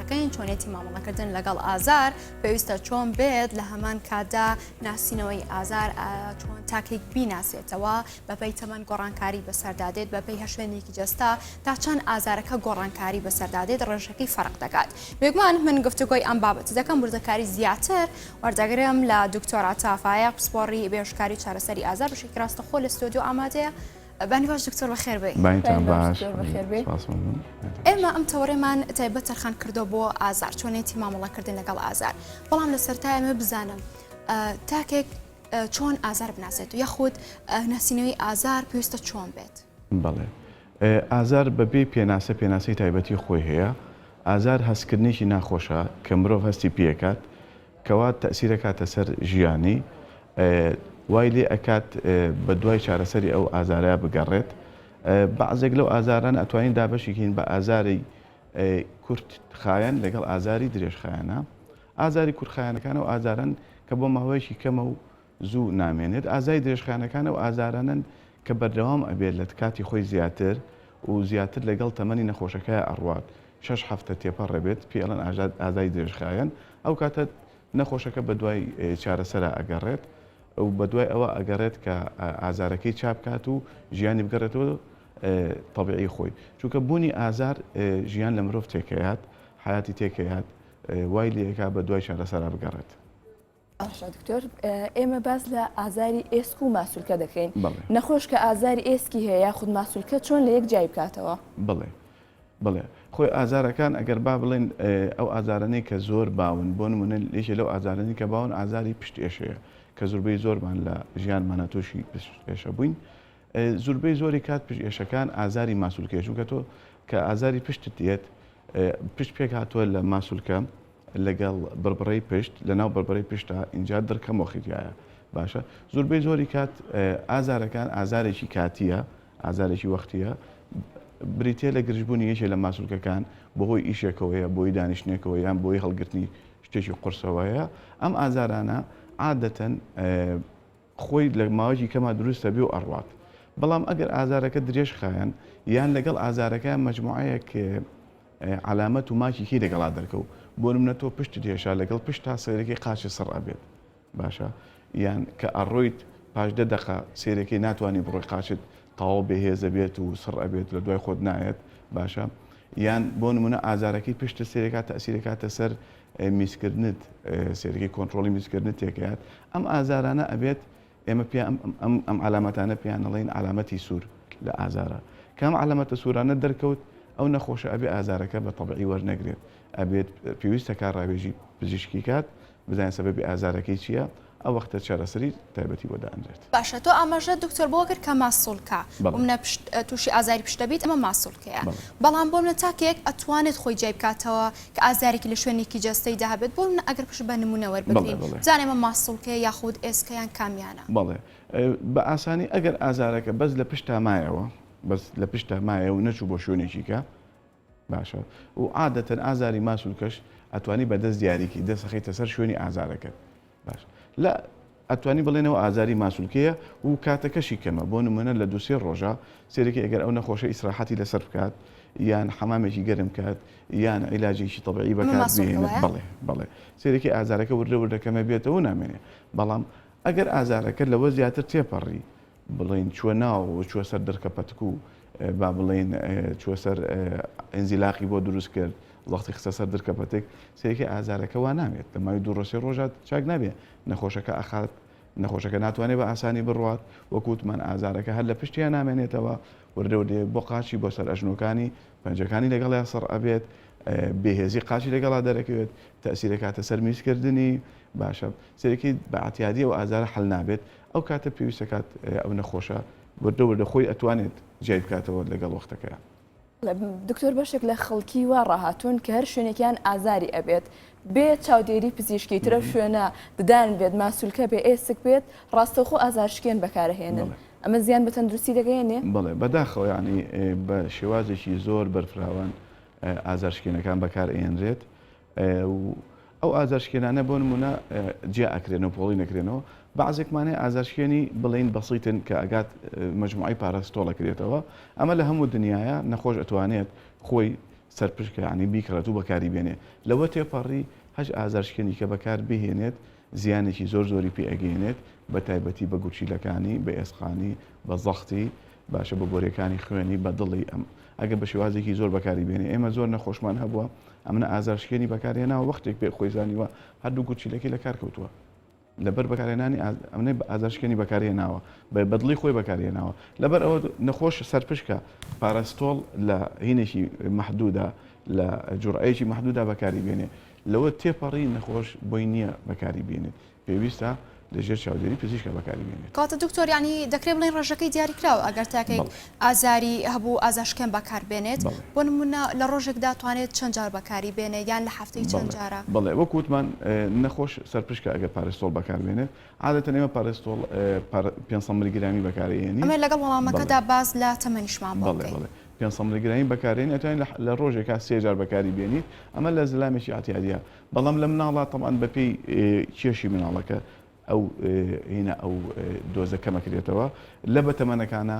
دەکەین چۆنێتی مامەڵەکردن لەگەڵ ئازار پێویستە چۆن بێت لە هەمان کاتدا ناسینەوەی ئازار چۆن تاکێک بیناسێتەوە بەپی تەمەەن گۆڕانکاری بەسەردادێت بەپی هەشوێنێکی جەستا تا چەند ئازارەکە گۆڕانکاری بەسەردادێت ڕێژەکەی فەرق دەکات بێگومان من گفتوگۆی ئەم بابەت دەکەم وردەکاری زیاتر وەردەگرم لە دکتۆرا تافاە پسپۆڕی بێشکاری چارەسەری ئازار بشێکی ڕاستەخۆ لە ستۆدیو ئامادەیە بانی باش دکتۆر بەخێر بێی. بانیتان باش بێ سپاس مەمنون. ئێمە ئەم تەوەرەمان تایبەت تەرخان کردوە بۆ ئازار چۆنێتی مامەڵە کردن لەگەڵ ئازار بەڵام لە سەرتا ئێمە بزانم تاکێک چۆن ئازار بناسێت یاخود ناسینەوەی ئازار پێویستە چۆن بێت بەڵێ ئازار بەبێ پێناسە پێناسەی تایبەتی خۆی هەیە ئازار هەستکردنێکی ناخۆشە کە مرۆڤ هەستی پێکات کەوا تەئسیر ئەکاتە سەر ژیانی وای لێ ئەکات بە دوای چارەسەری ئەو ئازارە بگەڕێت بەعزێک لەو ئازارانە ئەتوانین دابەشی کەین بە ئازاری کورت خایەن لەگەڵ ئازاری درێژخایەنە ئازاری کورتخایەنەکان ئەو ئازارەن کە بۆ ماوەیەکی کەمە و زوو نامێنێت ئازای درێژخایەنەکان ئەو ئازارانەن کە بەردەوام ئەبێت لە کاتی خۆی زیاتر و زیاتر لەگەڵ تەمەنی نەخۆشەکەیا ئەڕوات شەش هەفتە تێپەڕ ئەبێت پێی ئەڵێن ئازای درێژخایەن ئەو کاتە نەخۆشەکە بەدوای چارەسەرا ئەگەڕێت و بەدوای ئەوە ئەگەڕێت کە ئازارەکەی چابکات و ژیانی بگەڕێتەوە تەبیعی خۆی چونکە بوونی ئازار ژیان لە مرۆڤ تێکەیات حیاتی تێکەیات وای لێکا بە دوای چارەسەرا بگەڕێت. باشە دکتۆر ئێمە باس لە ئازاری ئێسک و ماسولکە دەکەین نەخۆش کە ئازاری ئێسکی هەیە خود ماسولکە چۆن لە یەک جای بکاتەوە بڵێ بڵێ خۆی ئازارەکان ئەگەر با بڵێن ئەو ئازارانەی کە زۆر باون بۆ نمونە لێشە لەو ئازارانی کە باون ئازاری پشت ئێشەیە کە زوربەی زۆرمان لە ژیانمانە تۆشی پشت ئێشە بووین زوربەی زۆری کات پشت ئێشەکان ئازاری ماسولکەشوکە تۆ کە ئازاری پشتت دێت پشت پێک هاتووە لە ماسولکە لەگەڵ بڕبڕەی پشت لەناو بڕبڕەی پشتە ئینجا دڕکە مۆخی تیایە باشە زوربەی زۆری کات ئازارەکان ئازارێکی کاتیە ئازارێکی وەختیە بریتە لە گرژبوونی یەکێ لە ماسولکەکان بەهۆی ئیشێکەوەیە بۆی دانیشتنێکەوە یان بۆی هەڵگرتنی شتێکی قرسەوەیە ئەم ئازارانە عادەتەن خۆی لە ماوەیەکی کەما دروست ئەبێ و ئەڕوات، بەڵام ئەگەر ئازارەکە درێژ خایەن یان لەگەڵ ئازارەکە مەجموعەیەک عەلامەت و ماکی کەی لەگەڵا دەرکەو، بۆ نمونە تۆ پشتت هێشا لەگەڵ پشت تا سەیرەکەی قاچت سڕ ئەبێت باشە یان کە ئەڕۆیت پاش دە دەقە سەیرەکەی ناتوانی بڕۆی قاچت تەواو بێهێزە بێت و سڕ ئەبێت لە دوای خۆت نایەت باشە یان بۆ نمونە ئازارەکەی پشتت سەیرەکات تەئسیرەکاتە سەر میزکردنت سەیرەکەی کۆنترۆڵی میزکردنت تێکەات ئەم ئازارانە ئەبێت ئێمە پێ ئەم علامەتانە پێیان نەڵین علامەتی سوور لە ئازارە کام علامەتە سوورانە دەرکەوت ئەو نەخۆشە ئەبێ ئازارەکە بە تەبعی وەرنەگرێت ئەبێت پێویستە کار ڕاوێژی پزیشکی کات بزانین سەبەبی ئازارەکەی چییە ئەو وەختە چارەسەری تایبەتی بۆ دانرێت. باشە تۆ ئاماژەت دکتۆر بەوە کرد کە ماسولکە بۆ منە پشت توشی ئازاری پشت دەبیت ئەمە ماسولکەیە بەڵام بۆ منە تاکێک ئەتوانێت خۆی جیای بکاتەوە کە ئازارێکی لە شوێنێکی جەستەی دا هەبێت بۆ منە ئەگەر پشت بە نمونە وەربگرین بزانین ئەمە ماسولکەیە یاخود ئێسکە یان کامیانە. بەڵێ بە ئاسانی ئەگەر ئازارەکە بەس لە پشتا مایەوە بەس لە پشتا مایەوە نەچوو بۆ شوێنێکی کە باشە و عادەتەن ئازاری ماس و کەش ئەتوانی بە دەست دیاریکی دەست خەیتە سەر شوێنی ئازارەکەت باش لە ئەتوانی بڵێنەوە ئازاری ماسولکەیە و کاتەکەشی کەمە بۆ نمونە لە دوسێ ڕۆژە سێرەکە ئەگەر ئەو نەخۆشە ئیسراحەتی لەسەر بکات یان حەمامێکی گەرم کات یان عیلاجێکی تەبعی بەکات بڵێ بڵێ سێرەکی ئازارەکە وردە وردەکەمە بێتەوە نامێنێ بەڵام ئەگەر ئازارەکە لەوە زیاتر تێپەڕی بڵێین چووە ناو و چووە سەر دڕکە پەتک و با بڵێین چووە سەر ئینزیلاقی بۆ دروست کرد وەختی خستە سەر درکە پەتک سێکی ئازارەکە وا نامێت لە ماوی دوو ڕۆژێ ڕۆژات چاک نابێت نەخۆشەکە ئەخات نەخۆشەکە ناتوانێت بە ئاسانی بڕوات وەکووتمان ئازارەکە هەر لە پشتیان نامێنێتەوە وردەوردەیەک بۆ قاچی بۆ سەر ئەژنۆکانی پەنجەکانی لەگەڵیان سڕ ئەبێت بێهێزی قاچی لەگەڵا دەرەکەوێت تەسیرەکاتە سەر میزکردنی باشە سێکی بەعاتیادی و ئازارە حل نابێت ئەو کاتە پێویست دەکات ئەو نەخۆشە وردە وردە خۆی ئەتوانێت جیای بکاتەوە لەگەڵ وەختەکەیا. دکتۆر بەشێک لە خەڵکی وا ڕاهاتوون کە هەر شوێنێکیان ئازاری ئەبێت بێ چاودێری پزیشکی ترەو شوێنە ددان بێت ماسولکە بێ ئێسک بێت ڕاستەوخۆ ئازارشکێن بەکارەهێنن ئەمە زیان بە تەندروستی دەگەیەنێ؟ بەڵێ بەداخەوە یانی بە شێوازێکی زۆر بەرفراوان ئازارشکێنەکان بەکار ئەیەنرێت و ئەو ئازارشکێنانە بۆ نموونە جیا ئەکرێنەوە پۆڵین ئەکرێنەوە بەعزێک مانای ئازارشکێنی بڵێین بەسیتن کە ئەگات مەجموعەی پاراستۆڵ ئەکرێتەوە ئەمە لە هەموو دنیاە نەخۆش ئەتوانێت خۆی سەرپشکانی بیکڕێت و بەکاری بێنێ لەوە تێپەڕی هەش ئازارشکێنی کە بەکار بهێنێت زیانێکی زۆر زۆری پێ ئەگەینێت بە تایبەتی بە گورچیلەکانی، بە ئێسقانی، بە زەختی، باشە بە بۆریەکانی خوێنی، بە دڵی، ئەم ئەگەر بە شێوازێکی زۆر بەکاری بێنێ ئێمە زۆر نەخۆشمان هەبووە ئەمنە ئازارشکێنی بەکار هێناوە وەختێک پێ خۆی زانیوە هەردوو گورچیلەکەی لە کار کەوتووە لەبەر بەکارهێنانی ئاز ئەمنە ئازارشکێنی بەکار هێناوە بە بە دڵی خۆی بەکار هێناوە لەبەر ئەوە نەخۆش سەرپشکە پاراستۆڵ لە هینێکی مەحدودا لە جوڕەیەکی مەحدودا بەکاری بێنێ لەوە تێپەڕی نەخۆش بۆی نییە بەکاری بێنێت، پێویستە لە ژێر چاودێری پزیشکە بەکاری بێنێت. کەواتە دکتۆر یانی دەکرێت بڵێین ڕێژەکەی دیاریکراوە ئەگەر تاکێک بەڵێ. ئازاری هەبوو ئازاشکێن بەکار بێنێت، بەڵێ. بۆ نموونە لە ڕۆژێکدا توانێت چەند جار بەکاری بێنێت یان لە هەفتەی چەند بەڵێ جارە؟ بەڵێ وەکو وتمان نەخۆش سەرپشکە ئەگەر پارستۆڵ بەکار بێنێت عادەتەن ئێمە پارستۆڵ پار پێنج سەد ملیگرامی بەکار ئەیێنین. ئەمەی لەگەڵ وەڵامەکەدا بەڵێ. باس لە تەمەنیشمان بۆ بەڵێ بکەی. بەڵێ پێنسەڵ ملگرامی بەکاردێنی ئەتوانیت لە ڕۆژێکا سێ جار بەکاری بێنیت ئەمە لە زلامێکی ئەعتیادیە بەڵام لە مناڵا تەبعەن بەپێی کێشی مناڵەکە ئەو هینا ئەو دۆزە کەمەکرێتەوە لە بەتەمەنەکانە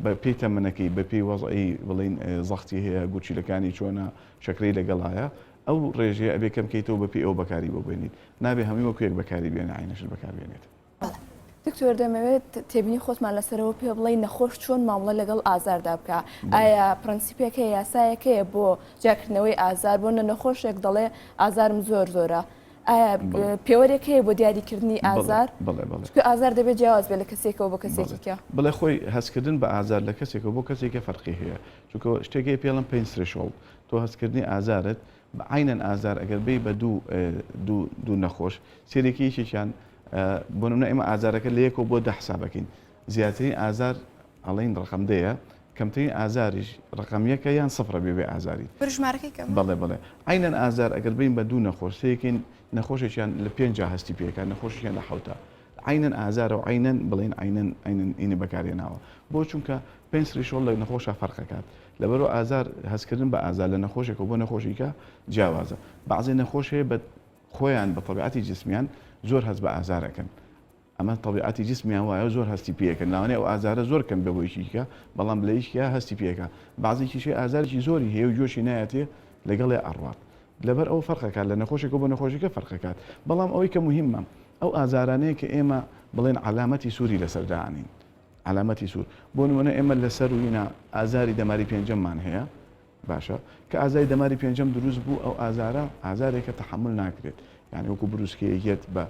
بە پێی تەمەنەکەی بە پێی وەزعی بڵین زەختی هەیە گورچیلەکانی چۆنە شەکرەی لەگەڵایە ئەو ڕێژەیە ئەبێ کەم کەیتەوە بە پێی ئەو بەکاری بۆ بێنیت نابێ هەمووی وەکوێک بەکاری بێنە عینەشت بەکار بێنێت بەڵێ دکتۆر دەمەوێت تێبینی خۆتمان لەسەرەوە پێ بڵێ نەخۆش چۆن مامڵە لەگەڵ ئازاردا بکە ئایا پرەنسیپێکە یاسایەکەیە بۆ جاکردنەوەی ئازار بۆ نە نەخۆشێک دەڵێ ئازارم زۆر زۆرە ئایا پێوەرێک هەیە بۆ دیاریکردنی ئازار ئازار دەبێت جیاواز بێت لە کەسێکەوە بۆ کەسێکیکە بڵێ خۆی هەستکردن بە ئازار لە کەسێکەوە بۆ کەسێکە فەرقی هەیە چونکە شتێکی پێڵم پێین سرشۆڵ تۆ هەستکردنی ئازارت عەینەن ئازار ئەگەر بێی بە دوو دوو دوو نەخۆش سێرێکی یەکێکیان بۆ نمونە ئێمە ئازارەکە لە یەکەوە بۆ دە حساب ئەکەین زیاترین ئازار ئەڵین ڕقم دەیە کەمترین ئازاریش ڕقم یەکە یان سفرە بێ بێ ئازاری برو ژمارەکەی کەم بەڵێ بەڵێ عەینەن ئازار ئەگەر بین بە دوو نەخۆش سێکین نەخۆشێکیان لە پێنجا هەستی پێکە نەخۆشیان لە حەوتا عەینەن ئازارە و عەینەن بڵێین عەینەن عەینەن ینی بەکارهێناوە بۆ چونکە پێنج ثریشۆڵد لە نەخۆشا فەرق ئەکات لەبەرئەوە ئازار هەستکردن بە ئازار لە نەخۆشێکەوە بۆ نەخۆشیکە جیاوازە بەعزێ نەخۆش هەیە بە خۆیان بە تەبیعەتی جسمیان زۆر هەست بە ئازار ئەکەن ئەمە تەبیعەتی جسمیان وایە زۆر هەستی پێکەن لەوانەیە ئەو ئازارە زۆر کەم بێ بۆ یەکیکە بەڵام لە یەکیا هەستی پێکە بەعزێکیشی ئازارێکی زۆری هەیە و جۆشی نایەتێ لەگەڵێ ئەڕوات لەبەر ئەوە فەرق ئەکات لە نەخۆشێکەوە بۆ نەخۆشیکە فەرق ئەکات بەڵام ئەوەی کە موهیمە ئەو ئازارانەیە کە ئێمە بڵێن عەلامەتی سوری لەسەر دانین عەلامەتی سور بۆ نمونە ئێمە لە سەروینا ئازاری دەماری پێنجەممان هەیە باشە کە ئازای دەماری پێنجەم دروست بوو ئەو ئازارە ئازارێکە تەحمل ناکرێت یعنی وەکو بروسکەیەت بە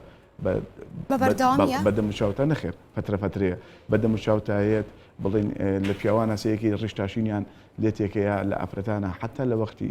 بەدەمچوتە نەخێر پەترەفەترەیە بەدەمچوتایەت بڵین لە پیاوانە سەیەکی ڕشتاشینیان لێتێکەیە لە ئافرەتانە حتا لە وەختی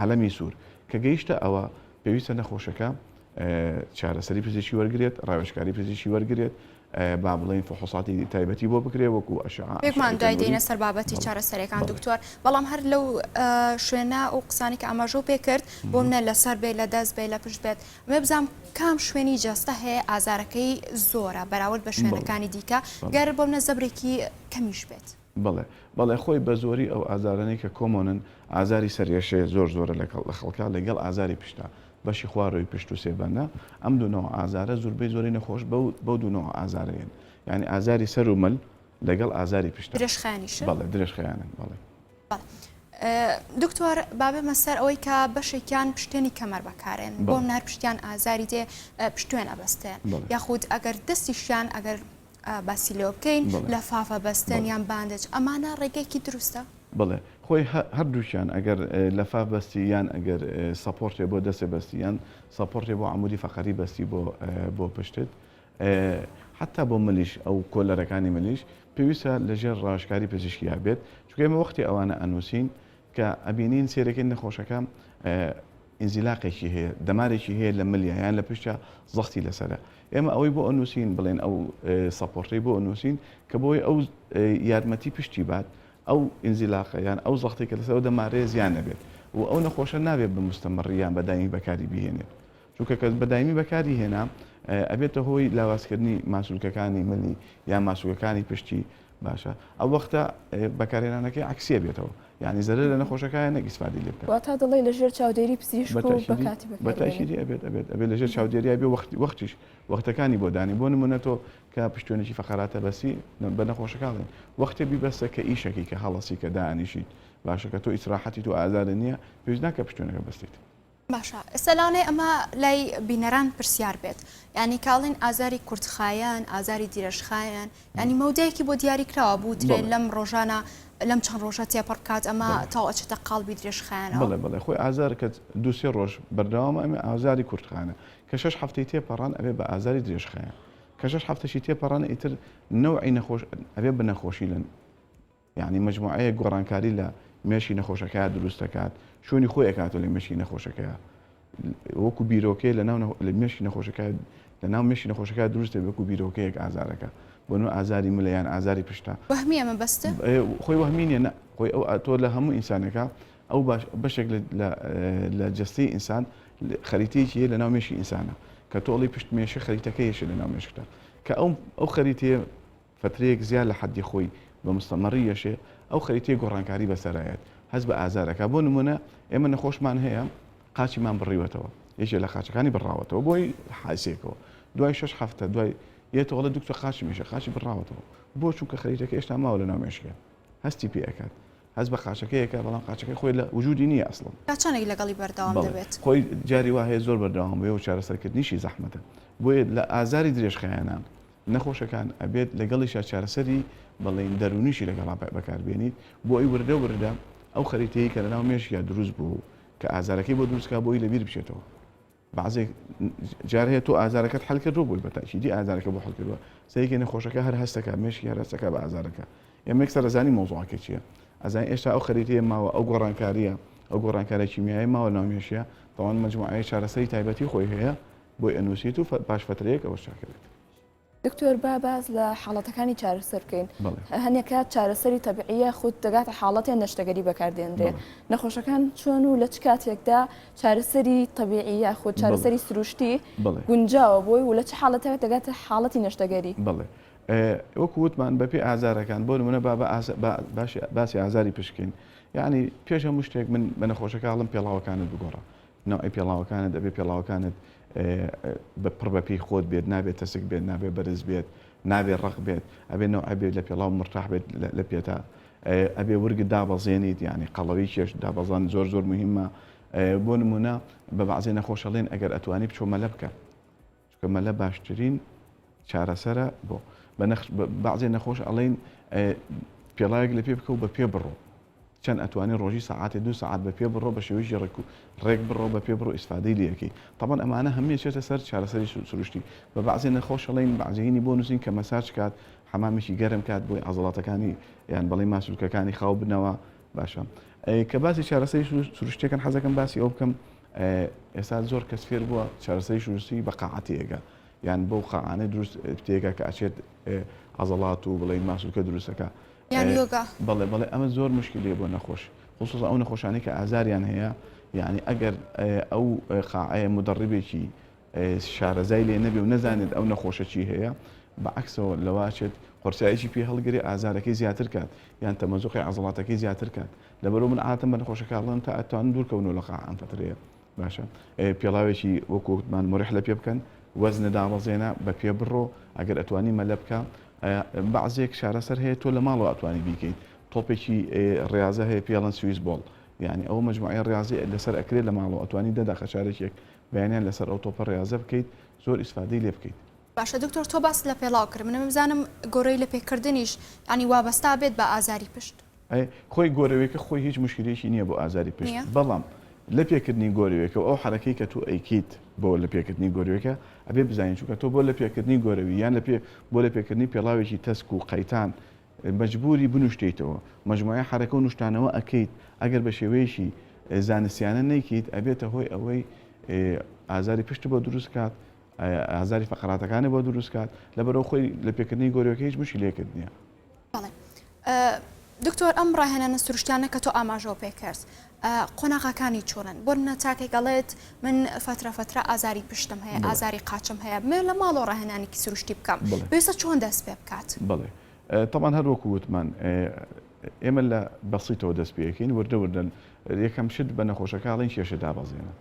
عەلەمی سوور کە گەیشتە ئەوە پێویستە نەخۆشەکە چارەسەری پزیشکی وەرگێت ڕاوێشکاری پزیشکی وەرگێت با بڵین فحوساتی تایبەتی بۆ بکرێ وەکو ئەشمان دوای دێنە سەر بابەتی چارەسەرەکان دکتۆر بەڵام هەر لەو شوێنە و قسانی کە ئەمەژۆ پێ کرد بۆ منە لەسەر بێ لە دەست بێ لە پشت بێت مێ بزانام کام شوێنی جەستە هەیە ئازارەکەی زۆرە بەراورد بە شوێنەکانی دیکە گەر بۆ منە زەبرێکی کەمیش بێت. بەڵێ بەڵێ خۆی بەزۆری ئەو ئازارانەی کە کۆمۆنن ئازاری سەر ێشەیە زۆر زۆرە لەگەڵ لە خەڵکا لەگەڵ ئازاری پشتە بەشی خواروی پشت و سێبەندە ئەم دوو نەوە ئازارە زوربەی زۆری نەخۆش بەو بەو دوو نەوە ئازارەیەن یانی ئازاری سەر و مل لەگەڵ ئازاری پشتە درێژخایەنیشە بەڵێ درێژخایەنن بەڵێ دکتۆر بابێمە سەر ئەوەی کە بەشێکیان پشتێنی کەمەر بەکارێن بۆم نار پشتیان ئازاری دێ پشتێن ئەبەستێن یاخود ئەگەر دەستیشیان ئەگەر باسی لێوە بکەین لە فافە بەستن یان باندج ئەمانە ڕێگەیەکی دروستە؟ بەڵێ خۆی هەردووکیان ئەگەر لەفاف بەستی یان ئەگەر سەپۆڕتێ بۆ دەستێ بەستی یان سەپۆڕتێ بۆ عمودی فەقەری بەستی بۆ بۆ پشتت حتا بۆ ملیش ئەو کۆلەرەکانی ملیش پێویستە لەژێر ڕاشکاری پزیشکیا بێت چکێمە وەختی ئەوانە ئەنووسین کە ئەبینین سێرەکەی نەخۆشەکە ئینزیلاقێکی هەیە، دەمارێکی هەیە لە ملیا یان لە پشتیا زەختی لەسەرە. ئێمە ئەوەی بۆ ئەنووسین بڵێن ئەو سەپۆڕتەی بۆ ئەنووسین کە بۆی ئەو یارمەتی پشتی بات، ئەو ئینزیلاقە یان ئەو زەختەی کە لەسەر ئەو دەمارەیە زیان نەبێت و ئەو نەخۆشە نابێت بە موستەمەڕی یان بە دایمی بەکاری بهێنێت. چونکە کە بە دایمی بەکاری هێنا ئەبێتە هۆی لاوازکردنی ماسولکەکانی ملی یان ماسولکەکانی پشتی باشە ئەو وەختە بەکارهێنانەکەی عەکسیە بێتەوە یانی زەرەر لە نەخۆشەکایە نەک ئیسفادەی لێ بکەن. واتا دەڵێی لە ژێر چاودێری پزیشک و بە کاتی بەکاربێنن. بە تاکیدی ئەبێت ئەبێت ئەبێت لە ژێر چاودێریای بێ وەخت وەختیش وەختەکانی بۆ دانێ بۆ نمونە تۆ کە پشتوێنێکی فەقەراتە بەسی بە نەخۆشەکە ئەڵێن وەختێ بیبەسە کە ئیشەکی کە هەڵەسی کە دانیشیت باشە کە تۆ ئیسراحەتیت و ئازارت نییە پێویست ناکە پشتوێنەکە بەستیت باشە ئێستا لەوانەیە ئەمە لای بینەران پرسیار بێت یعنی کاڵین ئازاری کورتخایەن ئازاری دیرەژخایەن ینی مەودایەکی بۆ دیاریکراوە بوترێن لەم ڕۆژانە لەم چەند ڕۆژە تێپەڕکات ئەمە تاوەچێتە قالبی درێژخایەن بڵێ بڵێ خۆی ئازار کە دوسێ ڕۆژ بەردەوامە ئەمە ئازاری کورتخانە کە شش هەفتەی تێپەڕان ئەبێ بە ئازاری درێژخایەن کە شش هەفتەشی تێپەڕان ئیتر نەوعی نەخۆش ئەبێ بە نەخۆشی لەن یەعنی مەجموعەیەک گۆڕانکاری لە مێشکی نەخۆشەکەیا دروست دەکات، شوێنی خۆی ئەکاتە لە مێشکی نەخۆشەکەیا. وەکو بیرۆکەیە لە ناو لە مێشکی نەخۆشەکە لە ناو مێشکی نەخۆشەکە دروست دەبێت وەکو بیرۆکەیەک ئازارەکە. بۆ نموونە ئازاری ملە یان ئازاری پشتە. وەهمییە مەبەستە؟ خۆی وەهمی نییە، نا. خۆی ئەو تۆ لە هەموو ئینسانێکا ئەو باش بەشێک لە لە لە جەستەی ئینسان خەریتەیەکی هەیە لە ناو مێشکی ئینسانا کە تۆ ئەڵێی پشت مێشە خەریتەکەی هەیە لە ناو مێشکتا کە ئەو ئەو خەریتەیە فترەیەک زیاد لە حەدی خۆی بە مستەمەڕی یەشێ، ئەو خەریتەی گۆڕانکاری بەسەرایەت، هەست بە ئازار ئەکا. بۆ نموونە، ئێمە نەخۆشمان هەیە، قاچیمان بڕیوەتەوە، یەکێ لە قاچەکانی بڕاوەتەوە بۆ هی حاسێکەوە، دوای شەش حەفتە دوای یێتەوە ئەڵێ دوکتۆر قاچم یەشێ، قاچی بڕاوەتەوە. بۆ؟ چونکە خەریتەکە ئێشتا ماوە لەناو مێشکێ، هەستی پێ ئەکات. هەست بە قاچەکەی ئەکا، بەڵام قاچەکەی خۆی لە وجودی نییە ئەسڵەن. تا چەندێک لەگەڵی بەردەوام بەڵێ، دەبێت؟ خۆی جاری وا هەیە زۆر بەردەوام بێ و چارەسەرکردنیشی زەحمەتە. بۆیە لە ئازاری درێژخایەنە. نەخۆشەکان ئەبێت لەگەڵیشا چارەسەری بەڵێن دەروونیشی لەگەڵا بەکاربێنیت بۆ ئەوەی وردە وردە ئەو خەریتەی کە لەناو مێشکیا دروست بووە و کە ئازارەکەی بۆ دروست کا بۆی لەبیر بچێتەوە بەعزێک جار هەیە تۆ ئازارەکەت حەل کردووە بۆی بە تاکیدی ئازارەکە بۆ حەل کردووە سەیەکی نەخۆشەکە هەر هەستەکە مێشکی هەر هەستەکە بە ئازارەکە ئێمە یەکسەر ئەزانی مەوزوعەکە چییە ئەزانی ئێستا ئەو خەریتەیە ماوە ئەو گۆڕانکارییە ئەو گۆڕانکارە کیمیایی ماوە ناو مێشیە تەوان مجموعەیە چارەسەری تایبەتی خۆی هەیە بۆی ئەنوسیت و پاش فترەیەک ئەوەش چاکەبێت. دکتۆر با باس لە حاڵەتەکانی چارەسەر بکەین هەنێ کات چارەسەری تەبعیە خود دەگاتە حاڵەتێن نەشتەگەری بەکاردێنرێ نەخۆشەکان چۆن و لە چ کاتێکدا چارەسەری تەبیعی یا خود چارەسەری سروشتی گونجاوە بۆی و لە چ حاڵەتەکە دەگاتە حاڵەتی نەشتەگەری بڵێ وەک وتمان بەپی ئازارەکان بۆ منە با باسی ئازاری پشکین یعنی پێش هەموو شتێک من بە نەخۆشەکە هەڵم پێڵاوەکانت بگۆڕە نەوعی پێڵاوەکانت ئەبێ پێڵاوەکانت بە پڕ بە پێی خۆت بێت نابێت تەسک بێت نابێت بەرز بێت نابێت ڕق بێت ئەبێ نەوع بێت لە پێڵاو مرتاح بێت لە پێتا ئەبێ ورگت دابەزێنیت یعنی قەڵەوی کێش دابەزان زۆر زۆر مهمە بۆ نمونە بە بەعزێ نەخۆشەڵێن ئەگەر ئەتوانی بچۆ مەلە بکە چونکە مەلە باشترین چارەسەرە بۆ بەنەخش بەعزێ نەخۆش ئەڵین پێڵاوێک لە پێ بکە و بە پێ بڕۆ چەند ئەتوانێت ڕۆژی ساعاتێ دو ساعت بە پێ بڕۆ بە شێوەیەکی ڕێک و ڕێک بڕۆ بە پێ بڕۆ ئیسفادەی لەکەی تەبەن ئەمانە هەمێ چێتە سەر چارەسەری سروشتی بە بەعزێ نەخۆشەڵین بەعزینی بۆ نووسین کە مەساج کات حەمامێکی گەرم کات بۆی عزڵاتەکانی یان بەڵی ماسولکەکانی خاو بنەوە باشە کە باسی چارەسەری سروشتەکەن حەزەکەم باسی ئەو بکەم ئێستا زۆر کەس فێر بووە چارەسەریش نووسی بە قاعە تێگە یان بەو قاعانە دروست تێگە کە ئەچێت عەزەڵات و بڵێن ماسولکە دروستەکە بەڵێ بەڵێ ئەمە زۆر مشکلی بۆ نەخۆش خصوص ئەو نەخۆشانی کە ئازاریان هەیە یعنی ئەگەر ئەو قاعەیە مدەڕبێکی شارەزای لێ نەبێ و نەزانێت ئەو نەخۆشە چی هەیە بەعکسەوە لەواچێت قرسایکی پێ هەڵگری ئازارەکەی زیاتر کات یان تەمەزوقی عزڵاتەکەی زیاتر کات لەبەرو من عادەتەن بە نەخۆشەکە ئەڵێم تا ئەتوانن دوور کەونەوە لە قاع ئەم فەترەیە باشە پێڵاوێکی وەکو وتمان مریح لە پێ بکەن وەزنە دابەزێنە بە پێ بڕۆ ئەگەر ئەتوانی مەلە بکە بەعزێک شارەسەر هەیە تۆ لە ماڵەوە ئەتوانی بیکەیت تۆپێکی ڕاضە هەیە پێڵەن سویس بۆڵ یعنی ئەو مجموعی ڕاضی لەسەر ئەکرێت لە ماڵەوە ئەتوانی دەدا خەشارێکێک بەیانیان لەسەر ئەو تۆپە ڕاضە بکەیت زۆر ئیسفادەی لێ بکەیت باشە دکتۆر تۆ باست لە پێڵاو کرد منم بزانم گۆرەوی لە پێکردنیش یانی وابەستا بێت بە ئازاری پشت. ئەی خۆی گۆرەوێکە خۆی هیچ موشکیلەیەکی نیە بۆ ئازاری پشت بەڵام لە پێکردنی گۆرەوێکە و ئەو حەرەکەی کە تۆ ئەیکەیت بۆ لە پێکردنی گۆرەوێکە ئەبێ بزانین چونکە تۆ بۆ لە پێکردنی گۆرەوی یان لە پێ بۆ لە پێکردنی پێڵاوێکی تەسک و قەیتان مەجبوری بنوشتیتەوە مەجموعەی حەرەکە و نوشتانەوە ئەکەیت ئەگەر بە شێوەیەکی زانستیانە نەیکەیت ئەبێتە هۆی ئەوەی ئازاری پشت بۆ دروست کات ئازاری فەقەراتەکانی بۆ دروست کات لەبەرەو خۆی لە پێکردنی گۆرەوەکە هیچ مشکلەکت نییە. دکتۆر ئەم ڕاهێنانە سروشتانە کە تۆ ئاماژەوە پێ کرد قۆناغاکانی چۆنن بۆ منە تاکێک گەڵێت من فترە فترە ئازاری پشتم هەیە ئازاری قاچم هەیە بمێ لە ماڵۆ ڕاهێنانێکی سروشتی بکەم پێسە چۆن دەست پێ بکات بڵێ تەمان هەروەکو وتمان ئێمە لە بەسیتەوە دەست پێەکەین وردە وردەن یەکەم شت بە نەخۆشەکەڵین کێشە دابەزێنە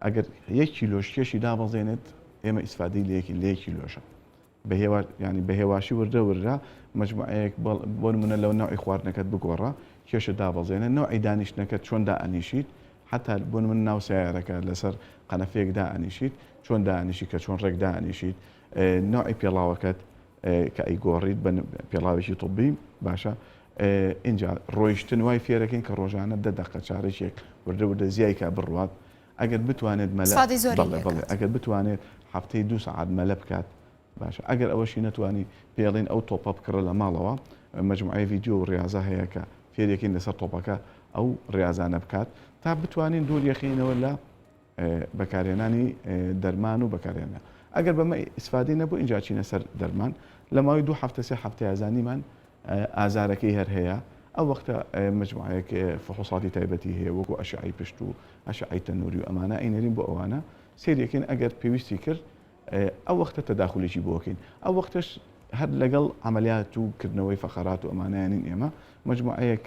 ئەگەر یەک کیلۆش کێشی دابەزێنێت ئێمە ئیسفادەی لە یەکی لە یەک کیلۆشە بە هێوا ینی بە هێواشی وردە وردە مجموعەیەک بەڵ- بۆ نمونە لەو نەوعی خواردنەکەت بگۆڕە کێشە دابەزێنە نەوعی دانیشتنەکەت چۆن دائەنیشیت حتا بۆ نمونە ناو سەیارەکە لەسەر قەنەفەیەک دائەنیشیت چۆن دائەنیشی کە چۆن ڕێک دائەنیشیت ئێ نەوعی پێڵاوەکەت کە ئەیگۆڕیت بە پێڵاوێکی طوبی باشە ئینجا ڕۆیشتن وای فێرەکەین کە ڕۆژانە دە دەقە چارەکێک وردە وردە زیای کا بڕوات ئەگەر بتوانێت مەلا سادی زۆری بەڵێ لێ بەڵێ کات. ئەگەر بتوانێت هەفتەی دوو سەعات مەلە بکات باشە ئەگەر ئەوەشی نەتوانی پێڵین ئەو تۆپە بکڕە لە ماڵەوە مجموعەی ڤیدیۆ و ڕاضە هەیە کە فێرەکەین لەسەر تۆپەکە ئەو ڕاضانە بکات تا بتوانین دوور یەخینەوە لە بەکارهێنانی دەرمان و بەکارهێنا ئەگەر بەمە ئیسفادەی نەبوو ئینجا چینە سەر دەرمان لە ماوەی دوو هەفتە سێ هەفتەیە زانیمان ئازارەکەی هەر هەیە ئەو وەختە مجموعەیەک فحوصاتی تایبەتی هەیە وەکو ئەشعی پشت و ئەشعی تەنوری و ئەمانە ئەینەرین بۆ ئەوانە سێریەکەین ئەگەر پێویستی کرد ئەو وەختە تەداخلیی بۆکەین ئەو وەختش هەر لەگەڵ ئەعملیات و کردنەوەی فەقەرات و ئەمانیانین ئێمە مجموعەیەک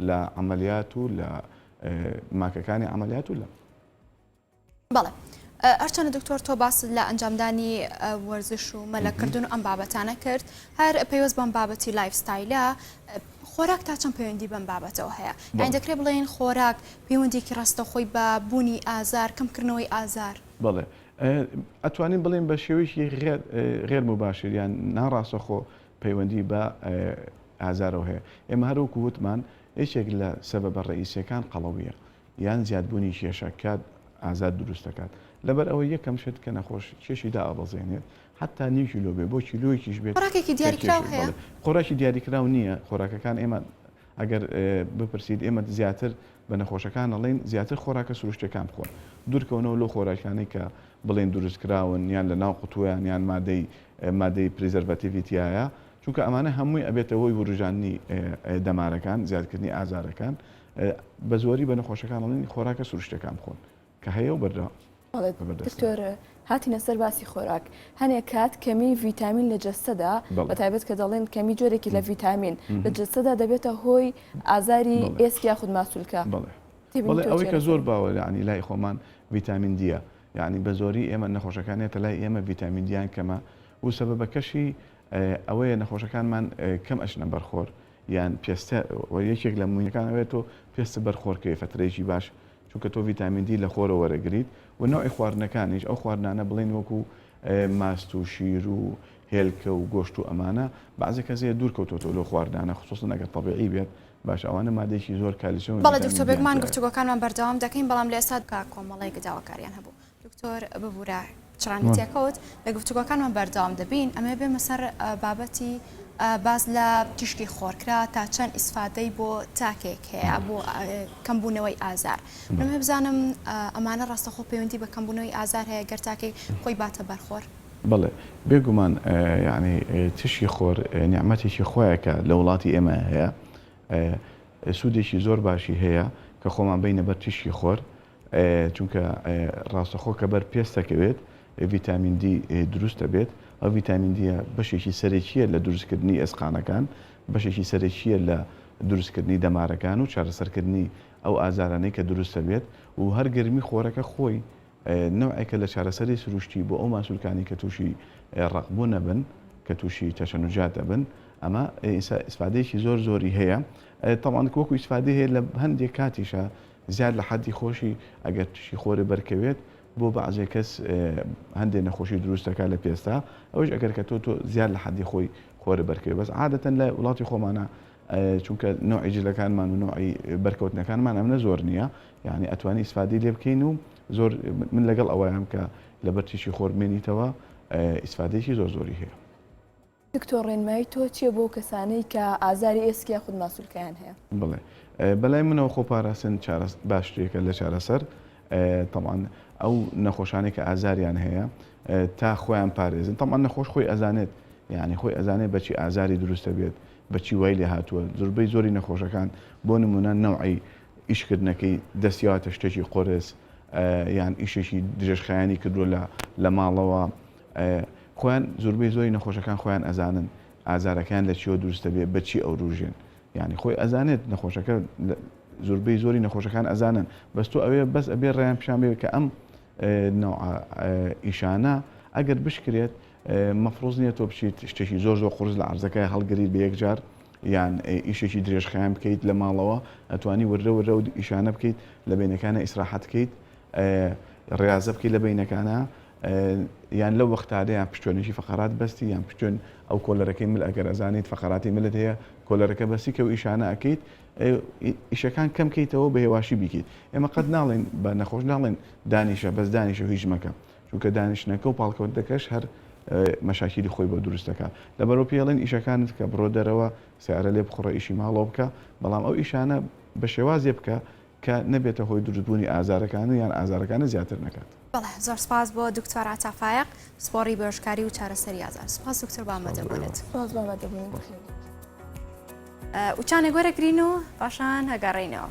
لە عملیات و لە ماکەکانی عملیات و لە. بەڵێ هەرچەنە دکتۆر تۆ باس لە ئەنجامدانی وەرزش و مەلەکردن و ئەم بابەتانە کرد هەر پەیوەست بەم بابەتی لایفستایلە خۆراک تا چەند پەیوەندی بەم بابەتەوە هەیە یان دەکرێت بڵێن خۆراک پەیوەندێکی ڕاستە خۆی بە بوونی ئازار کەمکردنەوەی ئازار بڵێ ئەتوانین بڵێن بە شێوەیەکی غێر مباشر یان ناڕاستەخۆ پەیوەندی بە ئازارەوە هەیە. ئێمە هەر وەکو وتمان یەکێک لە سەبەبە ڕەئیسیەکان قەڵەوییە یان زیادبوونی کێشە کە ئازار دروست دەکات. لەبەر ئەوەی یەکەم شت کە نەخۆش کێشی دائەبەزێنێت حەتا نیو کیلۆ بێت بۆ کیلۆیەکیش بێت خۆراکێکی کە دیاریکراو کێشی هەیە؟ بەڵێ خۆراکی دیاریکراو نییە خۆراکەکان ئێمە ئەگەر بپرسیت ئێمە زیاتر بە نەخۆشەکان ئەڵێین زیاتر خۆراکە سروشتیەکان بخۆن دوورکەونەوە لەو خۆراکانەی کە بڵێن دروستکراون یان لە ناو قوتوویان یان مادەی مادەی پریزەرڤاتیڤی تیایە چونکە ئەمانە هەمووی ئەبێتە هۆی وروژاندنی دەمارەکان زیادکردنی ئازارەکان بە زۆری بە نەخۆشەکان ئەڵین خۆراکە سروشتەکان بخۆن کە هەیە و بەردە دکتۆر هاتینە سەر باسی خۆراک هەنێک کات کەمی ڤیتامین لە جەستەدا بە تایبەت کە دەڵێن کەمی جۆرێکی لە ڤیتامین لە جەستەدا دەبێتە هۆی ئازاری ئێسک یاخود ماسولکە بڵێ ئەوەی کە زۆر باوە لەعنی لای خۆمان ڤیتامین دیە یانی بەزۆری ئێمە نەخۆشەکان یەتە لای ئێمە ڤیتامین دیان کەمە و سەبەبەکەشی ئەوەیە نەخۆشەکانمان کەم ئەچنە بەرخۆر یان پێستە و یەکێک لە مویەکان ئەوێت و پێست بەرخۆرکەی فترەیەکی باش چونکە تۆ ڤیتامین دی لە خۆرە وەرەگریت و نەوعی خواردنەکانیش ئەو خواردنانە بڵین وەکو ماست و شیر و هێلکە و گۆشت و ئەمانە بەعزێکە زێ دوور کەوتۆتۆ لۆ خواردانە خصوصن ئەگەر طبیعی بێت باشە ئەوانە مادەیەکی زۆر کالیسیۆم بەڵێ دکتۆر بێگومان گفتوگۆکانمان بەردەوام دەکەین بەڵام لە ئێستا کە کۆمەڵێک داواکاریان هەبوو دکتۆر ببورە چڕانی تێکەوت لە گفتوگۆکانمان بەردەوام دەبین ئەمێ بێمە سەر بابەتی باز لە تیشکی خۆرکرا تا چەند ئیسفادەی بۆ تاکێک هەیە بۆ کەمبوونەوەی ئازار من هەبزانم ئەمانە ڕاستەخۆ پەیوەندی بە کەمبوونەوەی ئازار هەیە گەر تاکەی خۆی باتە بەرخۆر بەڵێ بێگومان یەعنی ترشی خۆر نیعمەتێکی خوایە کە لە وڵاتی ئێمە هەیە سوودێکی زۆر باشی هەیە کە خۆمان بینە بەر تیشکی خۆر چونکە ڕاستەخۆ کە بەر پێستەکەوێت ڤیتامین دی دروستە بێت ئەو ڤیتامین دیە بەشێکی سەرەکیە لە دروستکردنی ئێسقانەکان بەشێکی سەرەکیە لە دروستکردنی دەمارەکان و چارەسەرکردنی ئەو ئازارانەی کە دروستە بێت و هەر گەرمی خۆرەکە خۆی نەوعێکە لە چارەسەری سروشتی بۆ ئەو ماسولکانەی کە تووشی ڕەقبوون ئەبن کە تووشی تەشەنوجات ئەبن ئەمە ئیسفادەیەکی زۆر زۆری هەیە تەوان وەکو ئیسفادی هەیە لە هەندێک کاتیشە زیاد لە حەدی خۆشی ئەگەر تووشی خۆرە بەرکەوێت بۆ بەعزێ کەس هەندێک نەخۆشی دروستەکە لە پێستا ئەوش ئەگەر کە تۆ تۆ زیاد لە حەدی خۆی خۆرە بەرکەوێت بەس عادەتەن لە وڵاتی خۆمانە چونکە نوعی جلەکانمان و نوعی بەرکەوتنەکانمان ئەمنە زۆر نییە یانی ئەتوانی ئیسفادەی لێ بکەین و زۆر من لەگەڵ ئەوەیان کە لەبەر تیشکی خۆر بمێنیتەوە ئیسفادەیەکی زۆر زۆری هەیە دکتۆر ڕێنمایی تۆ چیە بۆ کەسانەی کە ئازاری ئێسک یا خود ماسولکەیان هەیە بڵێ بەلای منەوە خۆ پاراستن باشترێکە لە چارەسەر تەمان ئەو نەخۆشانێک کە ئازاریان هەیە تا خۆیان پارێزن تەمان نەخۆش خۆی ئەزانێت یعنی خۆی ئەزانێت بەچی ئازاری دروستە بێت بەچی وای لێ هاتووە زوربەی زۆری نەخۆشەکان بۆ نمونە نەوعی ئیشکردنەکەی دەستیاتە شتێکی قۆرس یان ئیشێکی درێژخایانی کردووە لە لە ماڵەوە خۆیان زوربەی زۆری نەخۆشەکان خۆیان ئەزانن ئازارەکان لە چیەوە دروستە بێ بەچی ئەو روژێن ینی خۆی ئەزانێت نەخۆشەکە زوربەی زۆری نەخۆشەکان ئەزانن بەس تۆ ئەوێ بەس ئەبێ ڕێیان پیشان بێت کە ئەم ئیشانە ئەگەر بشکرێت مەفرۆز نییە تۆ بچیت شتێکی زۆر زۆر قرس لە عرزەکە هەڵگری بە یەکجار یان ئیشێکی درێژخایەن بکەیت لە ماڵەوە ئەتوانی وردە وردە و ئیشانە بکەیت لە بینەکانە ئیسراحەت کەیت ڕاضە بکەیت لە بینەکانە یان لە وەختادەیان پشتێنێکی فقرات بەستی یان پشتێن ئەو کۆلەرەکەی مل ئەگەر ئەزانیت فقراتی ملت هەیە کۆلەرەکە بەسی کە و ئیشانە ئەکەیت ئیشەکان کەم کەیتەوە بە هێواشی بیکەیت ئێمە قەت ناڵێن بە نەخۆش ناڵێن دانیشە بەس دانیشە هیچ مەکە چونکە دانیشتنەکە و پاڵکەوتنەکەش هەر مەشاکیلی خۆی بۆ دروست دەکا لەبەرەوە پێی ئەڵێن ئیشەکانت کە بڕۆ دەرەوە سەیارە لێ بخوڕە ئیشی ماڵەوە بکە بەڵام ئەو ئیشانە بە شێوازێ بکە کە نەبێتە هۆی دروست بوونی ئازارەکان و یان ئازارەکانت زیاتر نەکات. بەڵێ زۆر سپاس بۆ دکتۆر عەتا فایەق پسپۆڕی بۆشکاری و چارەسەری ئازار سپاس دکتۆر بۆ ئامادەبوونت. سپاس بۆ ئامادەبوونت. وچانێک وەرەگرین و پاشان ئەگەڕێینەوە.